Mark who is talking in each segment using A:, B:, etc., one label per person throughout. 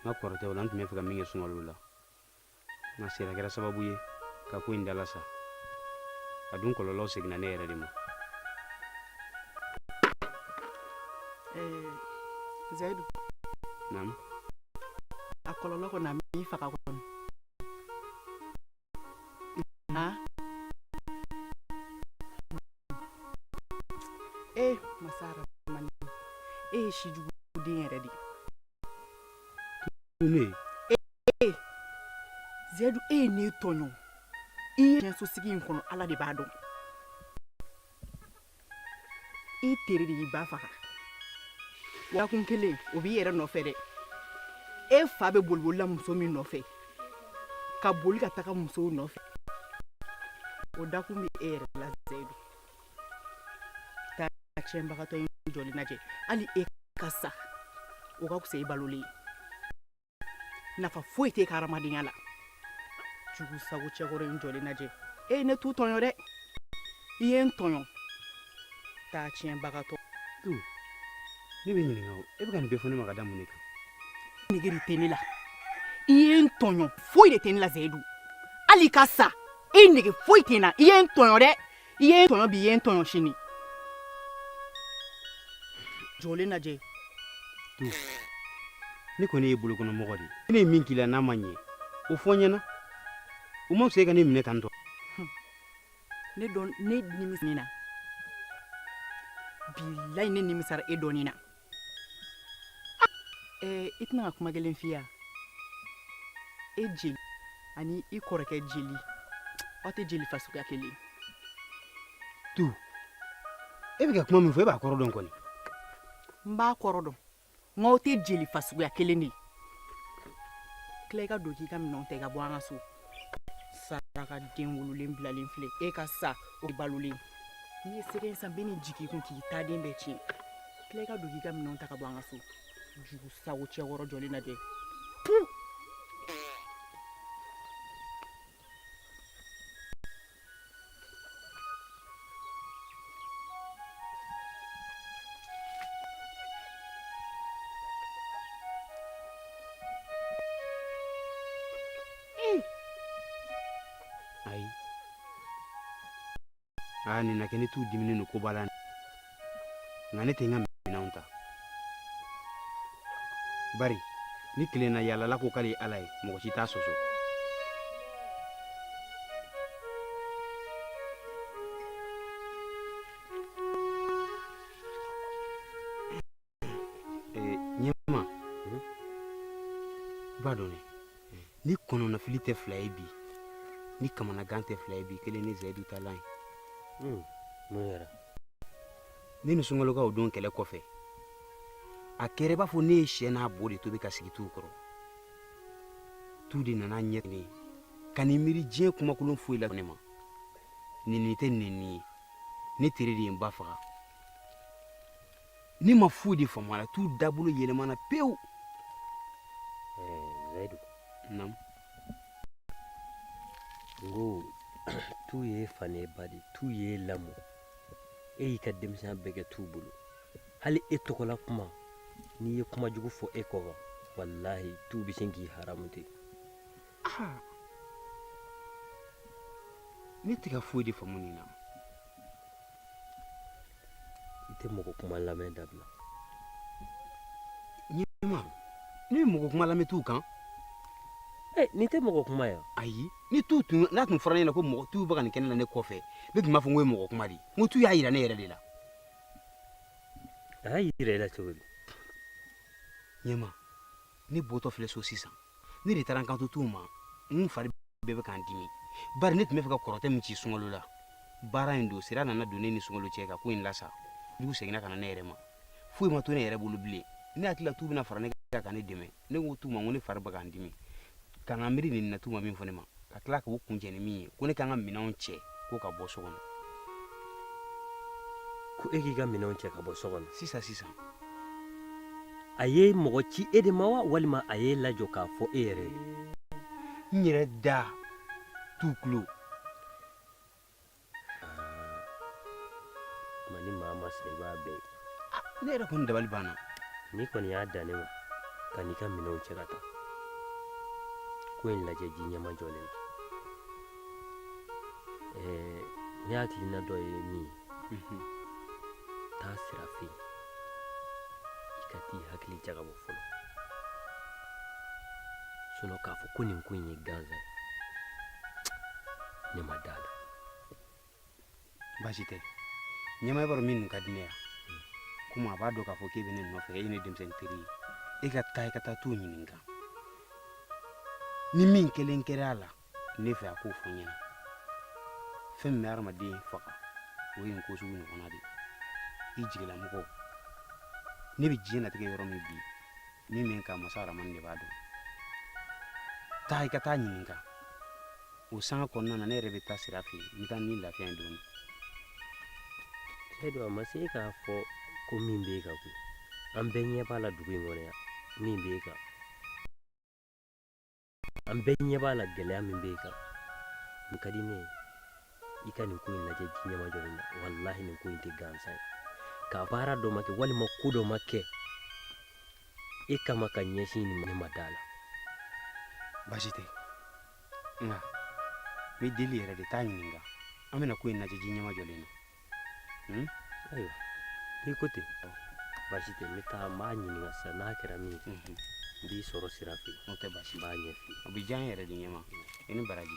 A: n ka kɔrɔtɛ o la n tun bɛ fɛ ka min kɛ sunkalo la nka sera kɛra sababu ye ka ko in dalasa a dun kɔlɔlɔw seginna ne yɛrɛ de ma zayidu naamu a kɔlɔlɔ kɔni a m'i faga kɔni Ha? Eh, masara mani. E ye shi jugu den yɛrɛ de. Ne. Eh, eh. Zedu, e ye ne tɔɲɔ. I ye sigi in kɔnɔ, Ala de b'a dɔn. i tere de y'i ba faga dakun kelen o b'i yɛrɛ nɔfɛ dɛ e fa bɛ boliboli la muso min nɔfɛ ka boli ka taga musow nɔfɛ o dakun bɛ e yɛrɛ la zayidu taa tiɲɛbagatɔ in jɔlen lajɛ hali e ka sa o ka fisa i balolen ye nafa foyi t'i ka hadamadenya la jugu sago cɛkɔrɔ in jɔlen lajɛ e ye ne tu tɔɲɔ dɛ i ye n tɔɲɔ taa tiɲɛbagatɔ tu ne b'i ɲininka o e bɛ ka nin bɛɛ fɔ ne ma ka da mun de kan nigiri tɛ ne la i ye n tɔɲɔ foyi de tɛ ne la zayidu hali i ka sa i nege foyi tɛ n na i ye n tɔɲɔ dɛ i ye n tɔɲɔ bi i ye n tɔɲɔ sini jɔlen lajɛ ne kɔni ye bolokɔnɔmɔgɔ de ye ne ye min k'i la n'a ma ɲɛ o fɔ n ɲɛna o ma se e ka ne minɛ tan tɔ ne dɔn ne nimisa na bilayi ne nimisara e dɔnni na Ee i tɛna ka kuma kelen fɔ yan e jeli ani i kɔrɔkɛ jeli aw tɛ jeli fasuguya kelen tu e bɛ ka kuma min fɔ e b'a kɔrɔ dɔn kɔni n b'a kɔrɔ dɔn nka aw tɛ jeli fasuguya kelen de ye tila i ka don k'i ka minɛnw ta i ka bɔ an ka so saraka den wololen bilalen filɛ e ka sa o balolen n'i ye sɛgɛ san bɛ ni jigin kun k'i ta den bɛɛ tiɲɛ tila i ka don k'i ka minɛnw ta ka bɔ an ka so jugu sago cɛkɔrɔ jɔlen lajɛ aa nin na kɛ ne t'u diminen don ko b'a la nka ne tɛ n ka minɛnw ta bari ni kelennayaalala ko k'ale ye ala ye mɔgɔ si t'a sɔsɔ Eh, ɲɛma mhm. i b'a dɔn dɛ ni kɔnɔnafili tɛ fila ye bi ni kamanagan tɛ fila ye bi kelen ne zayidu ta lan ye hmm, mun kɛra ne ni sunkalo ka o don kɛlɛ kɔfɛ a kɛra i b'a fɔ ne ye sɛ n'a bo de tobi k'a sigi tu kɔrɔ tu de nana ɲɛ ne ka ni miiri diɲɛ kumakolon foyi la ne ma nɛni tɛ nɛni ye ne tere de ye n ba faga ne ma foyi de faamu a la tu dabolo yɛlɛmana pewu zayidu nam n ko tu y'e fa n'e ba de tu y'e lamɔ e y'i ka denmisɛnya bɛɛ kɛ tu bolo hali e tɔgɔla kuma n'i ye kuma jugu fɔ e kɔ kan walahi tu bɛ sin k'i haramu ten ne tɛ ka foyi de faamu nin na i tɛ mɔgɔ kuma lamɛn dabila ɲɛma ne ye mɔgɔ kuma lamɛn tu kan eh, nin tɛ mɔgɔ kuma ye ayi ni tu tun n'a tun fɔra ne ɲɛna ko mɔgɔ tu bɛ ka nin kɛ ne na ne kɔfɛ ne tun b'a fɔ n k'o ye mɔgɔ kuma de ye n ko tu y'a yira ne yɛrɛ de la a y'a yira i la cogo di ɲɛma ne bɔtɔ filɛ so sisan ne de taara n kanto tu ma n fari bɛɛ bɛ ka n dimi bari ne tun b'a fɛ ka kɔrɔtɛ min ci sunkalo la baara in don sira nana don ne ni sunkalo cɛ ka ko in lasa dugu seginna ka na ne yɛrɛ ma foyi ma to ne yɛrɛ bolo bilen ne hakili la tu bɛna fara ne kan ka ne dɛmɛ ne ko tu ma ko ne fari bɛ ka n dimi ka n ka miiri nin na tu ma min fɔ ne ma ka tila k'o kuncɛ ni min ye ko ne ka n ka minɛnw cɛ ko ka bɔ so kɔnɔ ko e k'i ka minɛnw cɛ ka bɔ so kɔnɔ sisan sisan a ye mɔgɔ ci e de ma wa walima a y'e lajɔ k'a fɔ e yɛrɛ ye n yɛrɛ da tu tulo ma ni maa ma sa i b'a bɛɛ ne yɛrɛ kɔni dabali banna n'i kɔni y'a dan ne ma kan'i ka minɛnw cɛ ka taa ko in lajɛ ji ɲɛmajɔlen na ne hakilina dɔ ye min ye taa sira fɛ yen i ka t'i hakili jagabɔ fɔlɔ sinɔn k'a fɔ ko nin ko in ye gansan ye ne ma d'a la baasi tɛ ɲɛma i b'a dɔn min ka di ne ye komi a b'a dɔn k'a fɔ k'e bɛ ne nɔfɛ e ye ne denmisɛnnin teri ye e ka taa i ka taa tu ɲininka ni min kelen kɛra a la ne fɛ a k'o fɔ n ɲɛna fɛn min bɛ hadamaden faga o ye nin ko sugu ɲɔgɔnna de ye i jigilamɔgɔ ne bɛ diɲɛ latigɛ yɔrɔ min bi min bɛ n kan masa aramani de b'a dɔn taa i ka t'a ɲininka o sanga kɔnɔna na ne yɛrɛ bɛ taa sira fɛ yen n bɛ taa ni lafiya ye dɔɔnin zayidu a ma se k'a fɔ ko min b'e kan koyi an bɛɛ ɲɛ b'a la dugu in kɔnɔ yan min b'e kan an bɛɛ ɲɛ b'a la gɛlɛya min b'e kan min ka di ne ye i ka nin ko in lajɛ ji ɲɛma jɔlen na walahi nin ko in tɛ gansan ye ka baara dɔ ma kɛ walima ko dɔ ma kɛ e kama ka ɲɛsin nin ne ma d'a la baasi tɛ nka n b'e deli yɛrɛ de t'a ɲininka an bɛna ko in lajɛ ji ɲɛma jɔlen na ayiwa n'i ko ten baasi tɛ n bɛ taa n b'a ɲininka sisan n'a kɛra min ye n b'i sɔrɔ sira fɛ yen n b'a ɲɛf'i ye o bɛ diya n yɛrɛ de ye ɲɛmaa i ni baraji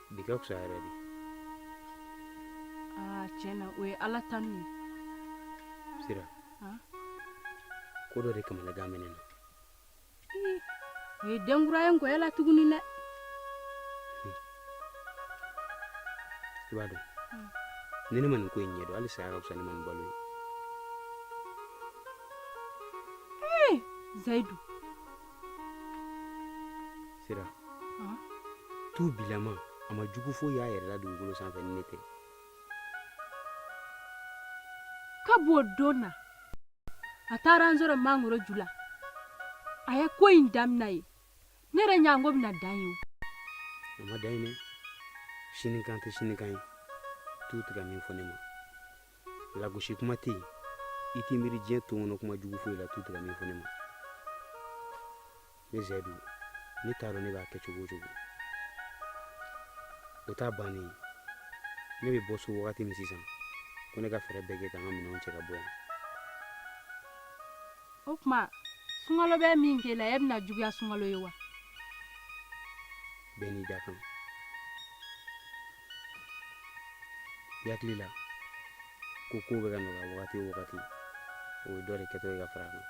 A: bi ka fisa yɛrɛ de aa tiɲɛ na o ye ala tanu ye sira Han? ko dɔ de kamanagan bɛ ne na Ii, o ye den kura ye nkɔyɛ la tuguni dɛ i b'a dɔn Hmm. ni ne ma nin ko in ɲɛdɔn hali saya ka fisa ne ma ni balo ye zayidu sira tu bilama a ma jugu foyi y'a yɛrɛ la dugukolo sanfɛ ni ne tɛ ka b'o don na a taara an sɔrɔ mangoro ju la a ye ko in damina ye ne yɛrɛ ɲa ko bɛna dan yen a ma dan yen dɛ sinikan tɛ sinikan ye tu tɛ ka min fɔ ne ma lagosi kuma tɛ yen i t'i miiri diɲɛ ton kɔnɔ kuma jugu foyi la tu tɛ ka min fɔ ne ma ne zayidu ne t'a dɔn ne b'a kɛ cogo o cogo o t'a bannen ne bɛ bɔ so wagati min sisan ko ne ka fɛɛrɛ bɛɛ kɛ ka n ka minɛnw cɛ ka bɔ yan o tuma sunkalo bɛ min kɛ la e bɛna juguya sunkalo ye wa bɛɛ n'i dakan i hakili la ko kow bɛ ka nɔgɔya wagati o wagati o ye dɔ de kɛtɔ ye ka far'a kan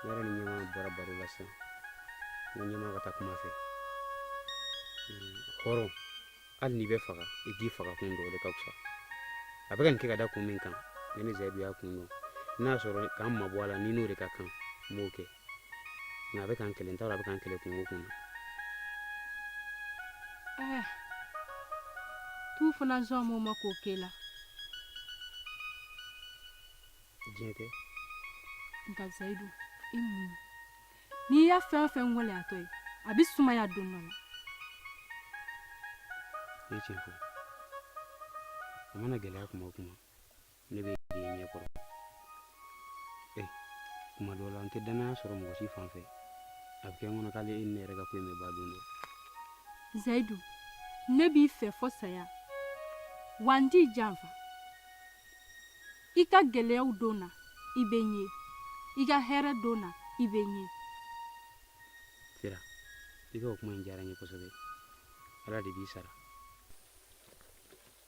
A: ne yɛrɛ ni ɲɛmaa bɔra baro la sisan n ko ɲɛmaa ka taa kuma a fɛ hɔrɔn hali n'i bɛ faga i k'i fagakun dɔn o de ka fisa a bɛ ka nin kɛ ka da kun min kan ni ne zayidu y'a kun dɔn n'a sɔrɔ ka n mabɔ a la ni n'o de ka kan n b'o kɛ nka a bɛ k'an kelen t'a dɔn a bɛ k'an kelen kungo kɔnɔ Eh, tu fana zɔn mɔgɔ ma k'o k'e la diɲɛ tɛ nka zayidu i muɲu n'i ye fɛn o fɛn gɛlɛyatɔ ye a bɛ sumaya don dɔ la ne ye tiɲɛ fɔ a mana gɛlɛya kuma o kuma ne bɛ de ɲɛ kɔrɔ ɛ kuma dɔw la n tɛ dannaya sɔrɔ mɔgɔ si fan fɛ a bɛ kɛ n kɔnɔ k'ale e ni ne yɛrɛ ka ko in bɛ ban don dɔ zayidu ne b'i fɛ fo saya wa n t'i janfa i ka gɛlɛyaw don na i bɛ n ye i ka hɛrɛ don na i bɛ n ye sera i ka o kuma in diyara n ye kosɛbɛ ala de b'i sara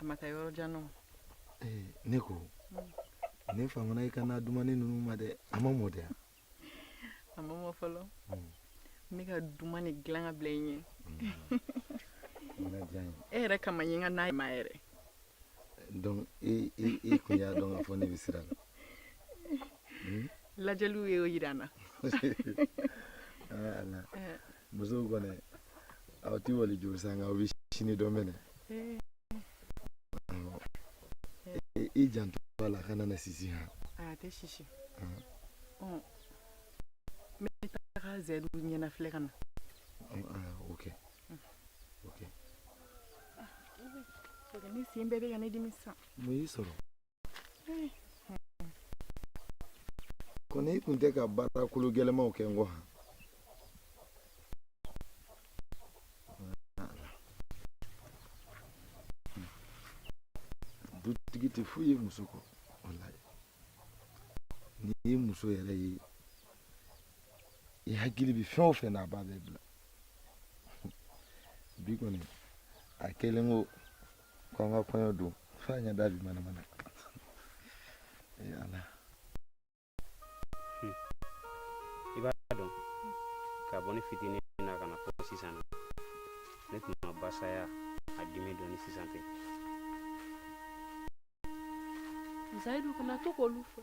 A: a ma taa yɔrɔ jan nɔ eh, ne ko ne famana i ka na dumannin ninnu ma dɛ a ma mɔ dɛ a ma mɔ fɔlɔ hmm. ne y'a dumannin dilan ka bila i ɲɛ hmm. e yɛrɛ kama n ye n ka na ma yɛrɛ donc i i kun y'a dɔn k'a fɔ ne bɛ sira la hmm? lajɛliw ye o jira n na eh. musow kɔni aw ti waliju san nka aw bɛ sini dɔn mɛnɛ i janto a la kana na sisi han a tɛ sisi n bɛ taga zayidu ɲɛna filɛ ka na ok ok ne sen bɛɛ bɛ ka ne dimi sisan mun y'i sɔrɔ ko n'i kun tɛ ka baara kolo gɛlɛnmaw kɛ n kɔ han dutigi tɛ foyi ye muso kɔ walayi n'i ye muso yɛrɛ ye i hakili bɛ fɛn o fɛn na a b'a bɛɛ bila bi kɔni a kɛlen ko kwanga kwenye du fanya davi manamana yaala hmm. i b'a dɔn ka bɔ ne fitinin na ka na fo sisan na ne tun ma basaya a dimi dɔn ni sisan tɛ zayidu kana to k'olu fɔ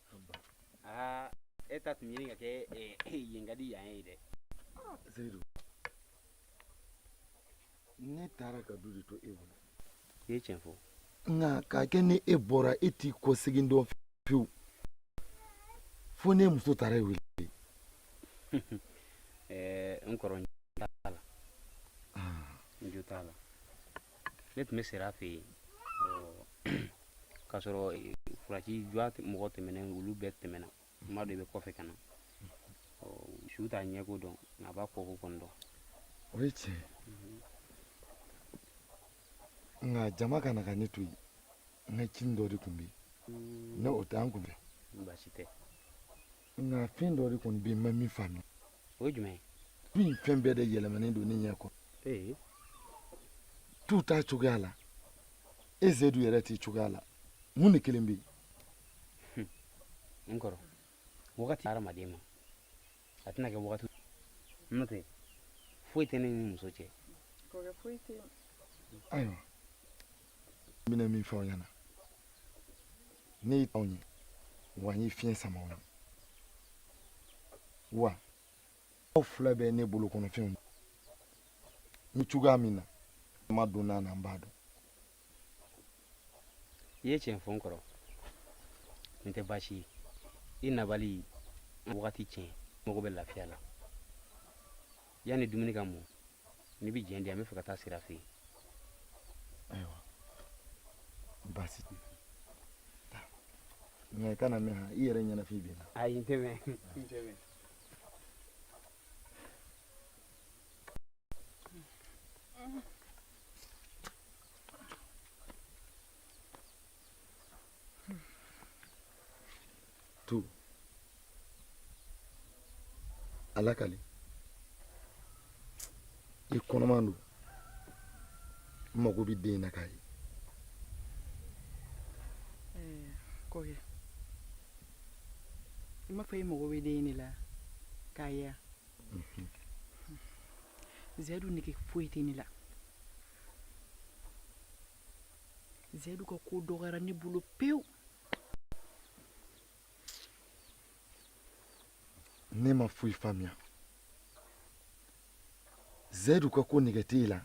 A: aa e ta tun ɲini ka kɛ yen ka di yan ye dɛ zayidu ne taara ka du de to e bolo i ye tiɲɛ fɔ nka k'a kɛ ni e bɔra e t'i kɔsegin dɔn pewu fo ne muso taara e wele n kɔrɔ n jo t'a la n jo t'a la ne tun bɛ sira fɛ yen k'a sɔrɔ furaji jɔ mɔgɔ tɛmɛnen olu bɛɛ tɛmɛna n b'a dɔn i bɛ kɔfɛ ka na su t'a ɲɛko dɔn nka a b'a kɔko kɔni dɔn o ye tiɲɛ nka jama ka na ka ne to yen n ka cinin dɔ de tun bɛ yen n'o tɛ an kun fɛ baasi tɛ nka fɛn dɔ de kɔni bɛ yen n ma min faamu o ye jumɛn ye du in fɛn bɛɛ de yɛlɛmalen don ne ɲɛ kɔrɔ ee tu t'a cogoya la e zedu yɛrɛ t'i cogoya la mun de kɛlen bɛ yen n kɔrɔ wagati tɛ hadamaden ma a tɛna kɛ wagati n'o tɛ foyi tɛ ne ni muso cɛ ayiwa n bɛna min fɔ aw ɲɛna ne ye tɔn ye wa n ye fiɲɛ sama aw ye wa aw fila bɛ ne bolo kɔnɔfɛnw ni cogoya min na n ma don n'a na n b'a dɔn i ye tiɲɛ fɔ n kɔrɔ nin tɛ baasi ye i nabali wagati tiɲɛ mago bɛ lafiya la yanni dumuni ka mɔ n'i bɛ jɛn di an bɛ fɛ ka taa sira fɛ yen ayiwa baasi tɛ taa nka i kana mɛn i yɛrɛ ɲɛnafin b'an na ayi n tɛ mɛn n tɛ mɛn Tu. Ala kali. I kɔnɔman don. N mago bɛ den na k'a ye. Eh, k'o ye. I m'a fɔ i mago bɛ den de la k'a ye wa? Mhm. Zedu nege foyi tɛ ne la. Zedu ka ko dɔgɔyara ne bolo pewu ne ma foyi faamuya Zedu ka ko nege t'e la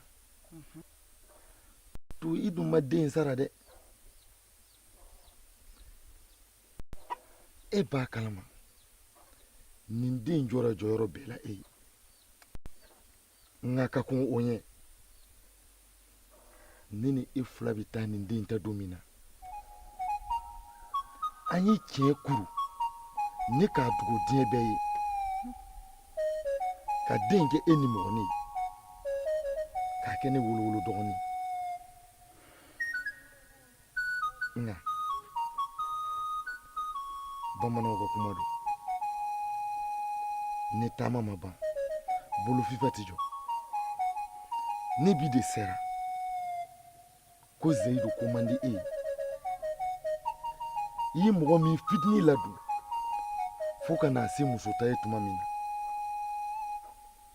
A: Tu i dun ma den sara dɛ e b'a kalama nin den jɔyɔrɔ jɔyɔrɔ bɛɛ la e ye nka ka kɔn o ɲɛ ne ni e fila bɛ taa nin den ta don min na an ye tiɲɛ kuru ne k'a dogo diɲɛ bɛɛ ye ka den kɛ e nimɔgɔnin ye k'a kɛ ne wolowolo dɔgɔnin nka bamananw ka kuma don ni taama ma ban bolofifa tɛ jɔ ni bi de sera ko zayidu ko man di e ye i ye mɔgɔ min fitini ladon fo ka n'a se musota ye tuma min na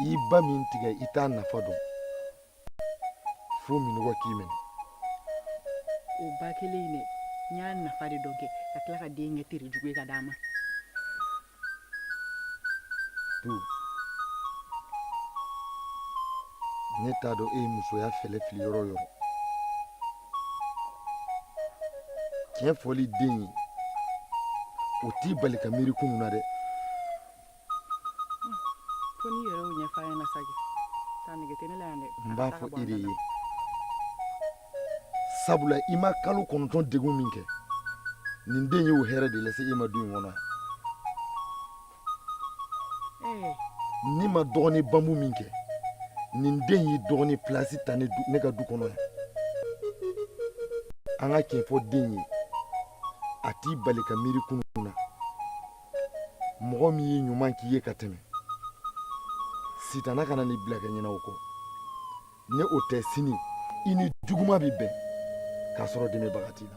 A: i ba min tigɛ i t'a nafa dɔn fo minnɔgɔ k'i minɛ o ba kelen in dɛ n y'a nafa de dɔn kɛ ka tila ka den kɛ tere jugu ye ka d'a ma tu ne t'a dɔn e ye musoya fɛlɛ fili yɔrɔ o yɔrɔ tiɲɛ fɔli den ye o t'i bali ka miiri kunun na dɛ fo n'i yɛrɛ y'o ɲɛfɔ a ɲɛna sa kɛ taa nege tɛ ne la yan dɛ n b'a fɔ i de ye sabula i ma kalo kɔnɔntɔn degun min kɛ nin den y'o hɛrɛ de lase e ma du in kɔnɔ yan n'i ma dɔgɔnin bambu min kɛ nin den y'i dɔgɔnin pilasi ta ne ka du kɔnɔ yan an ka tiɲɛ fɔ den ye a t'i bali ka miiri kunun na mɔgɔ min ye ɲuman k'i ye ka tɛmɛ sitana kana n'i bila ka ɲina o kɔ ni o tɛ sini i ni juguma bɛ bɛn k'a sɔrɔ dɛmɛbaga t'i la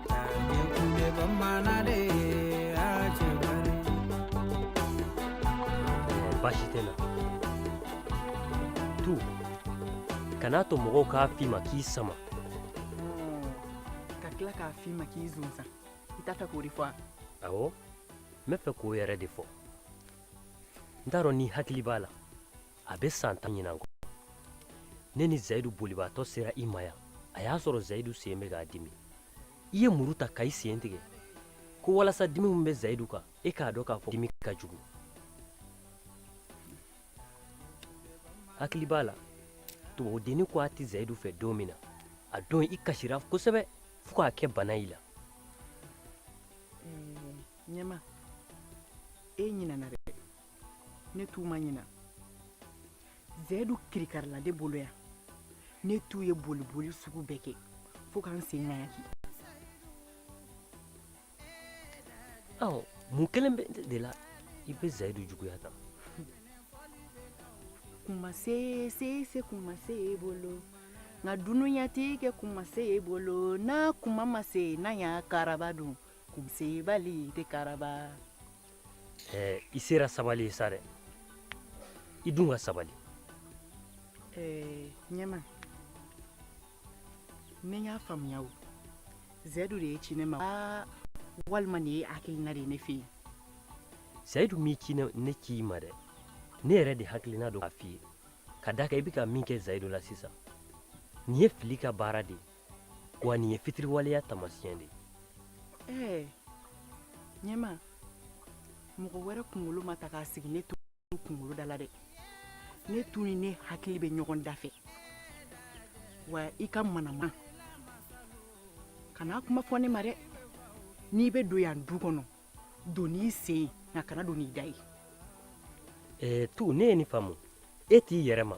A: baasi tɛ natu kana to mɔgɔw k'a f'i ma k'i sama ka tila k'a f'i ma k'i zonsan i t'a fɛ k'o de fɔ a awɔ n b'a fɛ k'o yɛrɛ de fɔ n t'a dɔn n'i hakili b'a la a bɛ san tan ni kɔ ne ni zayidu bolibaatɔ sera i ma yan a y'a sɔrɔ zayidu sen bɛ k'a dimi i ye muru ta ka i sen tigɛ ko walasa dimi min bɛ zayidu kan e k'a dɔn k'a fɔ dimi ka jugu hakili b'a la tubabudenni ko a tɛ zayidu fɛ don min na a don i kasira kosɛbɛ fo k'a kɛ bana i la ɲɛma e ɲinana dɛ ne tun ma ɲina zayidu kirikarala ne bolo yan ne tun ye boliboli sugu bɛɛ kɛ fo ka n sen ŋayaki ɔ mun kɛlen b'e de la i bɛ zayidu juguya tan kuma se se se kuma se e bolo nka dunuya tɛ kɛ kuma se e bolo n'a kuma ma se n'a y'a karaba dun kunsebali tɛ karaba i sera sabali ye sa dɛ i dun ka sabali ɲɛma ne y'a faamuya o zayidu de y'i ci ne ma aa walima nin ye hakilina de ye ne fɛ yen zayidu m'i ci ne ne ci i ma dɛ ne yɛrɛ de hakilina don k'a f'i ye ka d'a kan i bɛ ka min kɛ zayidu la sisan nin ye fili ka baara de ye wa nin ye fitiriwaleya tamasiyɛn de ye ɲɛma mɔgɔ wɛrɛ kunkolo ma ta k'a sigi ne to kunkolo da la dɛ ne tun ni ne hakili bɛ ɲɔgɔn da fɛ wa i kana manamana kuma fɔ ne ma dɛ n'i bɛ don yan du kɔnɔ don n'i sen ye nka kana don n'i da ye tu ne ye nin faamu e t'i yɛrɛ ma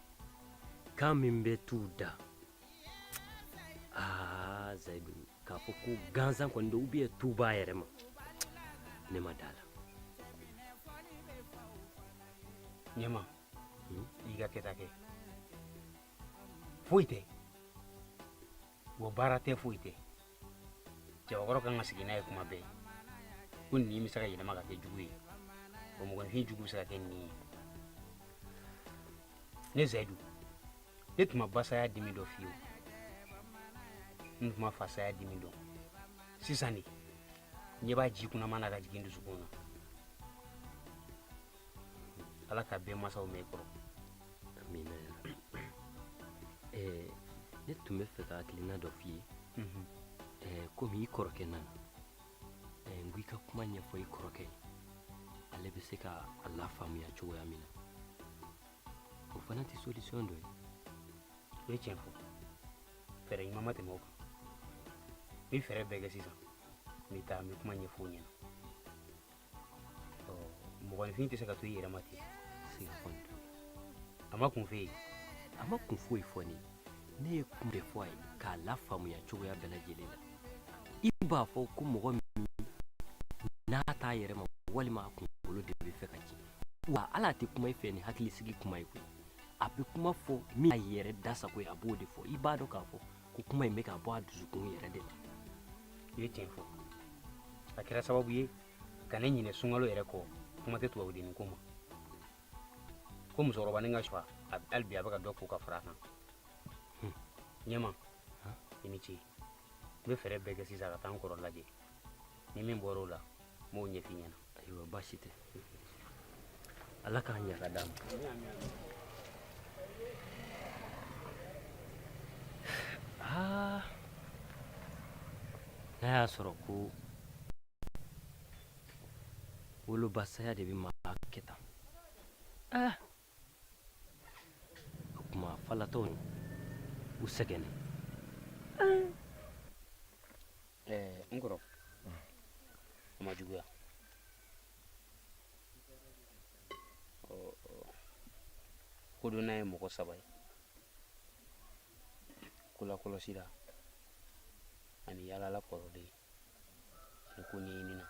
A: kan min bɛ t'u da aa zayidu k'a fɔ ko gansan kɔni don ou bien tun b'a yɛrɛ ma ne ma d'a la ɲɛma hmm? i ka kɛta kɛ foyi tɛ wa baara tɛ foyi tɛ cɛbakɔrɔ kan ka sigi n'a ye tuma bɛɛ ko ɲin bɛ se ka yɛlɛma ka kɛ jugu ye o mɔgɔninfin jugu bɛ se ka kɛ ɲin ye ne zayidu ne tun ma ba saya dimi dɔn fewu n tun ma fa saya dimi dɔn sisan de ɲɛ b'a ji kunaman na ka jigin n dusukun na ala ka bɛɛ masaw mɛɛn kɔrɔ amina ya rabi ɛɛ ne tun bɛ fɛ ka hakilina dɔ f'i ye ɛɛ komi i kɔrɔkɛ nana ɛɛ n ko i ka kuma ɲɛfɔ i kɔrɔkɛ ye ale bɛ se ka a lafaamuya cogoya min na o fana tɛ solution dɔ ye i ye tiɲɛ fɔ fɛɛrɛ ɲuman ma tɛmɛ o kan n bɛ fɛɛrɛ bɛɛ kɛ sisan n bɛ taa n bɛ kuma ɲɛfɔ o ɲɛna mɔgɔninfin tɛ se ka to i yɛrɛ ma ten se ka kɔni to a ma kun f'i ye a ma kun foyi fɔ n ye ne ye kun de fɔ a ye k'a la faamuya cogoya bɛɛ lajɛlen na i b'a fɔ ko mɔgɔ min n'a t'a yɛrɛ ma walima a kunkolo de bɛ fɛ ka ci wa ale tɛ kuma i fɛ ni hakilisigi kuma ye koyi a bɛ kuma fɔ min a yɛrɛ da sago ye a b'o de fɔ i b'a dɔn k'a fɔ ko kuma in bɛ ka bɔ a dusukun yɛrɛ de la i ye tiɲɛ fɔ a kɛra sababu ye ka ne ɲinɛ sungalo yɛrɛ kɔ kuma tɛ tubabudennin ko ma ko musokɔrɔba ni ka suwa hali bi a bɛ ka dɔ ko ka fara a kan ɲɛma i ni ce n bɛ fɛɛrɛ bɛɛ kɛ sisan ka taa n kɔrɔ lajɛ ni min bɔra o la n b'o ɲɛf'i ɲɛna ayiwa baasi tɛ ala k'a ɲɛ ka d'an ma aa n'a y'a sɔrɔ ko woloba saya de bɛ maa kɛ tan aa O tuma falatɔninw sɛgɛnnen n kɔrɔ a ma juguya kodɔnna ye mɔgɔ saba ye kolakɔlɔsila ani yaalala kɔrɔlen ani koɲɛɲinina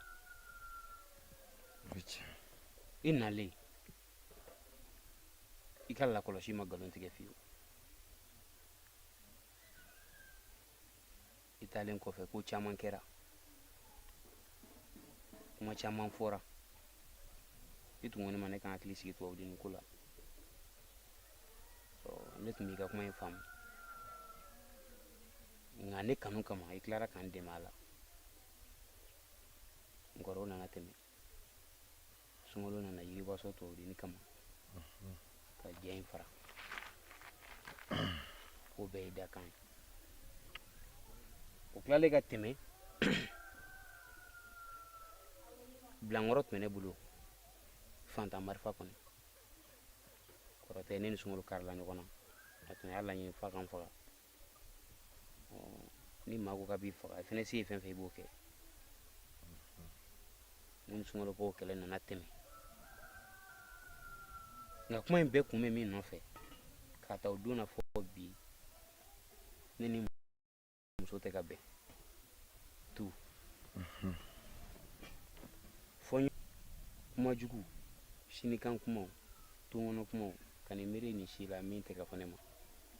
A: i nalen i ka lakɔlɔsi ma nkalon tigɛ fiyewu i taalen kɔfɛ ko caman kɛra kuma caman fɔra i tun ko ne ma ne ka n hakili sigi tubabudennin ko la ne tun b'i ka kuma in faamu nka ne kanu kama i tilara ka n dɛmɛ a la n kɔrɔ o nana tɛmɛ sunkalo nana jiribaso toduni kama ka jɛ in fara o bɛɛ ye dakan ye o tilalen ka tɛmɛ bilankɔrɔ tun bɛ ne bolo fantan marifa kɔni kɔrɔtɛ ne ni sunkalo karila ɲɔgɔn na a tun y'a laɲini f'a ka n faga ni maa ko k'a b'i faga i fana se ye fɛn o fɛn i b'o kɛ n ni sunkalo k'o kɛlɛ nana tɛmɛ nka kuma in bɛɛ kun bɛ min nɔfɛ k'a ta o don na fɔ bi ne ni n muso tɛ ka bɛn tun fɔ kuma jugu sinikan kumaw tongɔnɔ kumaw ka nin miiri nin si la min tɛ ka fɔ ne ma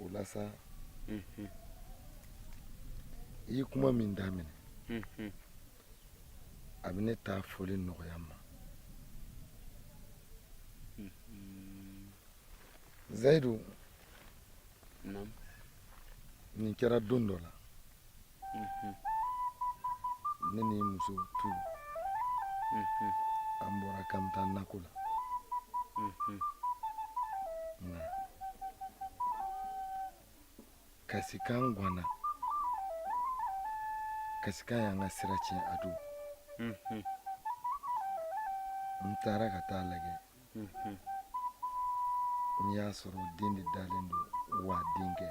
A: o la sa i ye kuma min daminɛ a bɛ ne ta fɔli nɔgɔya n ma zayidu nin kɛra don dɔ la ne ni n muso tun an bɔra k'an bɛ taa nako la nka kasikan ganna kasikan y'an ka sira tiɲɛ a don n taara ka taa a lajɛ n y'a sɔrɔ den de dalen don wa denkɛ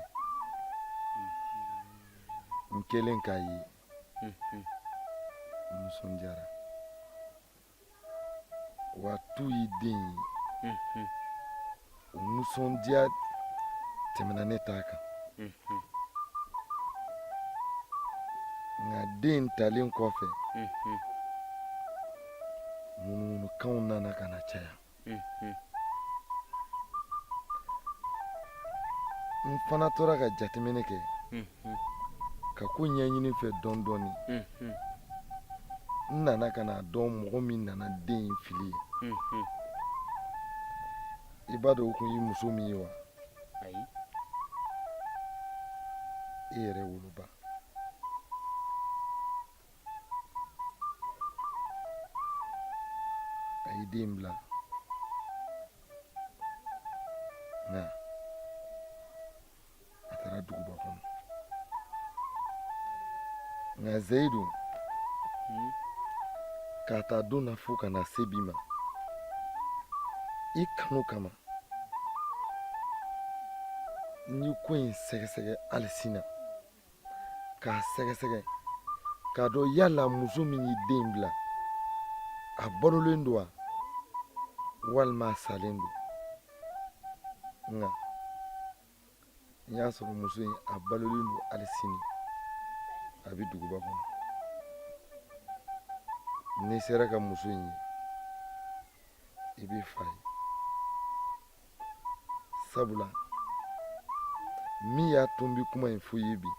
A: n kɛlen k'a ye n nisɔndiyara wa tu ye den ye o nisɔndiya tɛmɛna ne ta kan nka den talen kɔfɛ ŋunuŋunukan nana ka na caya n fana tora ka jateminɛ kɛ ka ko ɲɛɲini fɛ dɔɔni dɔɔni n nana ka n'a dɔn mɔgɔ min nana den in fili yen i b'a dɔn o tun ye muso min ye wa i yɛrɛ woloba a ye den bila nka a taara duguba kɔnɔ nka zeyidu k'a ta don na fo ka na se bi ma i kanu kama n ye ko in sɛgɛsɛgɛ hali sin na k'a sɛgɛsɛgɛ k'a dɔn yala muso min ye den bila a balolen don wa walima a salen don nka n y'a sɔrɔ muso in a balolen don hali sini a bɛ duguba kɔnɔ n'i sera ka muso in ye i b'i fa ye sabula min y'a to n bɛ kuma in fɔ i ye bi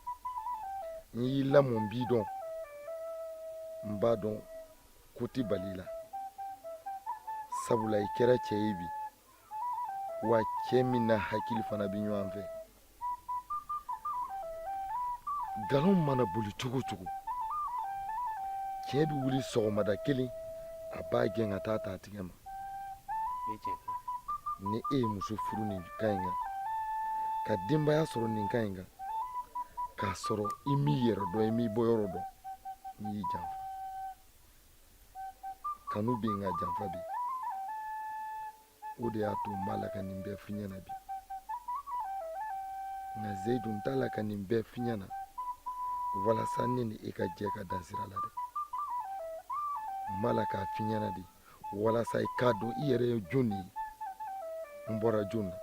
A: n y'i lamɔ n b'i dɔn n b'a dɔn ko tɛ bal'i la sabula i kɛra cɛ ye bi wa cɛ min n'a hakili fana bɛ ɲɔgɔn fɛ nkalon mana boli cogo o cogo tiɲɛ bɛ wuli sɔgɔmada kelen a b'a gɛn ka taa ta a tigɛ ma ni e ye muso furu nin kan in kan ka denbaya sɔrɔ nin kan in kan k'a sɔrɔ i m'i yɛrɛ dɔn i m'i bɔyɔrɔ dɔn n y'i janfa kanu bɛ yen nka janfa bɛ yen o de y'a to n b'a la ka nin bɛɛ f'i ɲɛ na bi nka zeyidu n t'a la ka nin bɛɛ f'i ɲɛ na walasa ne ni e ka jɛ ka dan sira la dɛ n b'a la k'a f'i ɲɛ na de walasa i k'a dɔn i yɛrɛ ye jɔn de ye n bɔra jɔn na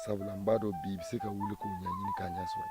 A: sabula n b'a dɔn bi i bɛ se ka wuli k'o ɲɛɲini k'a ɲɛ sɔrɔ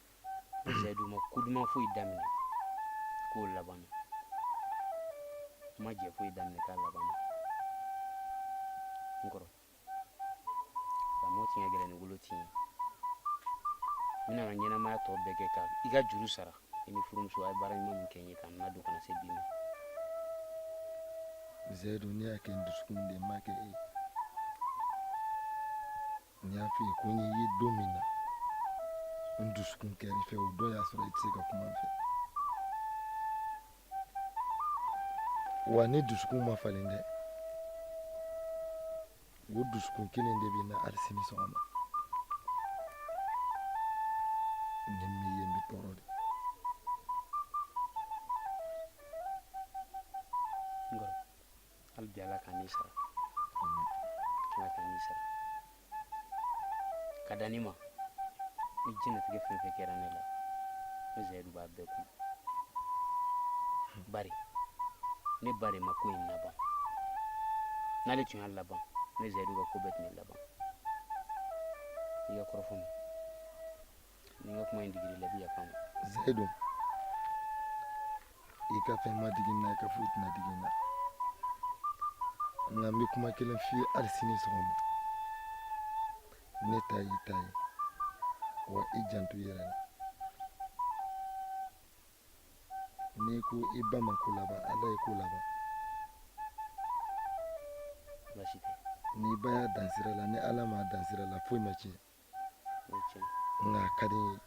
A: Zayidu ma ko duman foyi daminɛ k'o laban na ma jɛ foyi daminɛ k'a laban na n kɔrɔ lamɔ tiɲɛ gɛlɛn ni wolo tiɲɛ n bɛ n ka ɲɛnamaya tɔ bɛɛ kɛ ka i ka juru sara i ni furumuso a ye baara ɲuman min kɛ n ye ka n ladon ka na se bi ma zayidu ne y'a kɛ n dusukun de ma kɛ e ye ne y'a f'i ye ko n y'i ye don min na n dusukun kɛr'i fɛ o don y'a sɔrɔ i tɛ se ka kuma n fɛ wa ne dusukun ma falen dɛ o dusukun kelen de bɛ n na hali sini sɔgɔma ni n m'i ye n bɛ tɔɔrɔ de hali bi ala kan'i sara ala kan'i sara ka da ne ma ni jigilatigɛ fɛn o fɛn kɛra ne la ne zayidu b'a bɛɛ kun bari ne ba de ma ko in laban n'ale tun y'a laban ne zayidu ka ko bɛɛ tun bɛ laban i ka kɔrɔfɔ ma ni n ka kuma in digil'i la i bɛ yafa n ma zayidu i ka fɛn ma digi n na i ka foyi tɛna digi n na nka n bɛ kuma kelen f'i ye hali sini sɔgɔma ne ta y'i ta ye wa i janto i yɛrɛ la n'i ko i ba ma ko laban ala ye ko laban basi tɛ n'i ba y'a dan sira la ni ala m'a dan sira la foyi ma tiɲɛ nka a ka di n ye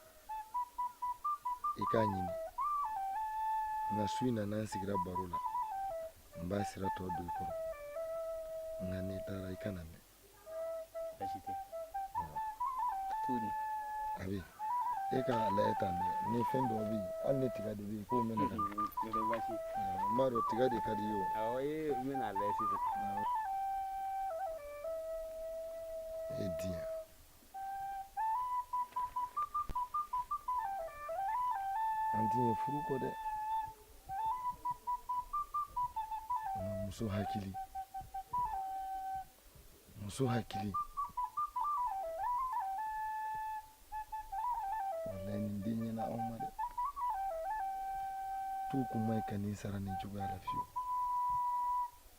A: i k'a ɲini nka su in na n'an sigira baro la n b'a sira tɔ don i kɔrɔ nka n'i taara i kana mɛn baasi tɛ tuuri a bɛ e ka lajɛ tan dɛ ni fɛn dɔ bɛ yen hali ni tiga de bɛ yen k'o mɛnɛ ka di n b'a dɔn tiga de ka di i ye o awɔ ee n bɛna a lajɛ sisan Hediye. Antin ye furuko dɛ. Muso hakili. Muso hakili. Wallahi nin den ɲɛna aw ma dɛ. Tu kun man ɲi ka nin sara nin cogoya la fiyewu.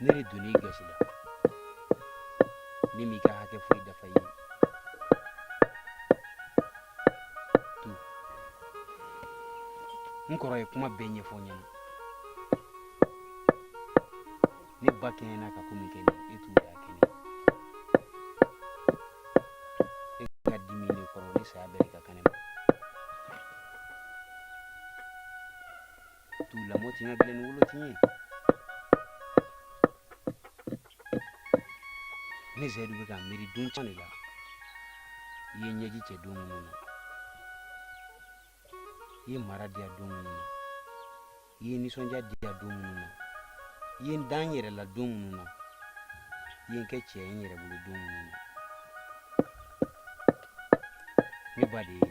A: ne de donna i gasi la ne m'i ka hakɛ foyi dafa i ye tu n kɔrɔ ye kuma bɛɛ ɲɛfɔ n ɲɛna ne ba kɛɲɛna ka ko min kɛ ne ye tu y'a kɛ ne e ka dimi ne kɔrɔ ne saya bɛɛ de ka kan ne ma tu lamɔ ti ka gɛlɛn ni wolo ti ye ne zɛdu bɛ ka miiri don caman de la i ye n ɲɛji cɛ don minnu na i ye mara diya don minnu na i ye nisɔndiya diya don minnu na i ye n da n yɛrɛ la don minnu na i ye n kɛ cɛ ye n yɛrɛ bolo don minnu na ne ba de ye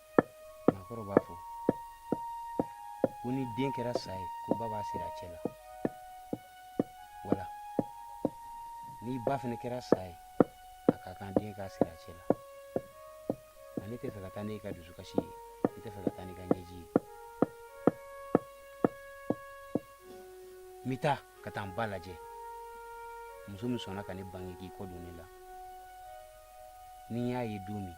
A: maakɔrɔ b'a fɔ ko ni den kɛra sa ye ko ba b'a siri a cɛ la wala ni ba fana kɛra sa ye a ka kan den k'a siri a cɛ la nka ne tɛ fɛ ka taa n'e ka dusukasi ye ne tɛ fɛ ka taa n'i ka ɲɛji ye n bɛ taa ka taa n ba lajɛ muso min sɔnna ka ne bange k'i kɔ don ne la ni n y'a ye don min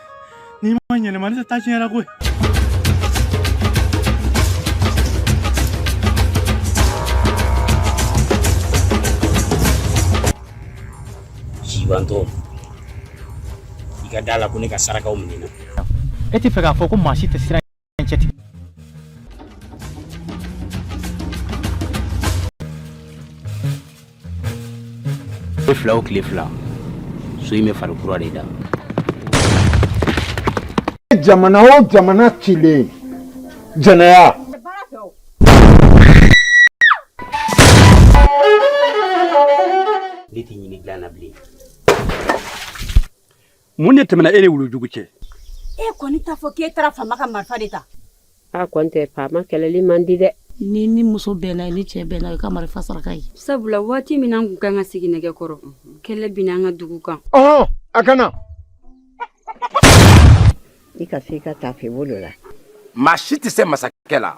A: N'i ma yɛlɛma ne tɛ taa tiɲɛ la koyi sibantɔ i ka da la ko ne ka sarakaw minɛ e tɛ fɛ k'a fɔ ko maa si tɛ siran tile fila o tile fila so in bɛ fari kura de da jamana o jamana cilen jɛnɛya ne tɛ ɲini dilan na bilen mun de tɛmɛna e ni wulujugu cɛ e kɔni t'a fɔ k'e taara faama ka marifa de ta a kɔni tɛ faama kɛlɛli man di dɛ n'i ni muso bɛnna ye ni cɛ bɛnna i ka marifa saraka ye sabula waati min an kun ka kan ka sigi nɛgɛ kɔrɔ kɛlɛ binna an ka dugu kan ɔhɔn a kana i ka se i ka tafe bolo la maa si tɛ se masakɛ la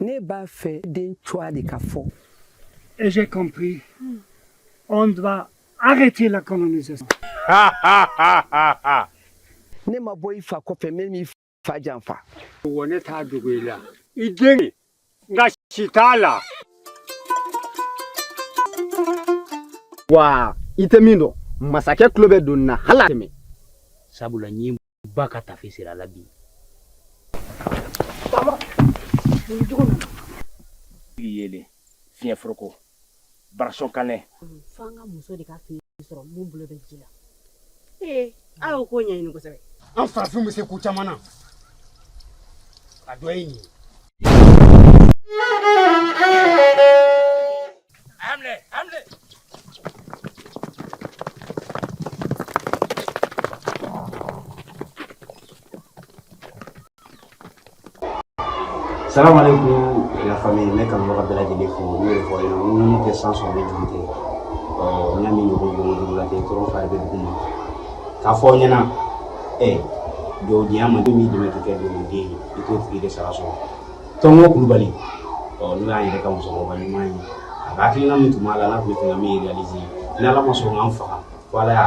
A: Ne b'a fɛ den cogoya de ka fɔ. Et j'ai compris. On doit arrêter la colonisation. ne ma bɔ i fa kɔfɛ min b'i fa janfa. Wa ne t'a dogo i la. I den gasi t'a la. Wa i tɛ min dɔn masakɛ tulo bɛ don na hali a tɛmɛ sabula n ye ba ka tafe sera a la bi yelen fiɲɛ foroko barasɔn kanɛ fo an ka muso de ka fini sɔrɔ min bolo bɛ ji la ee a y'o ko ɲɛɲini kosɛbɛ an farafinw bɛ se ko caman na a dɔ ye nin ye Emre, Emre. Salam alaikum la famille, ne kanubaga bɛɛ lajɛlen fo n'u yɛrɛ fɔ aw ɲɛna n ko tɛ san sɔrɔ ne juru tɛ n y'a min ɲɔgɔn jɔn juru la tɛ tɔɔrɔ fari bɛ dugu ma k'a fɔ aw ɲɛna ɛ jɔwdenya man di min dɛmɛ tɛ kɛ jɔwden ye i t'o tigi de sara sɔrɔ tɔngo kulubali ɔ n'o y'an yɛrɛ ka musokɔrɔba ɲuman ye a ka hakilina min tun b'a la n'a tun bɛ fɛ ka min réaliser ni ala ma sɔn k'an faga fo ala y'a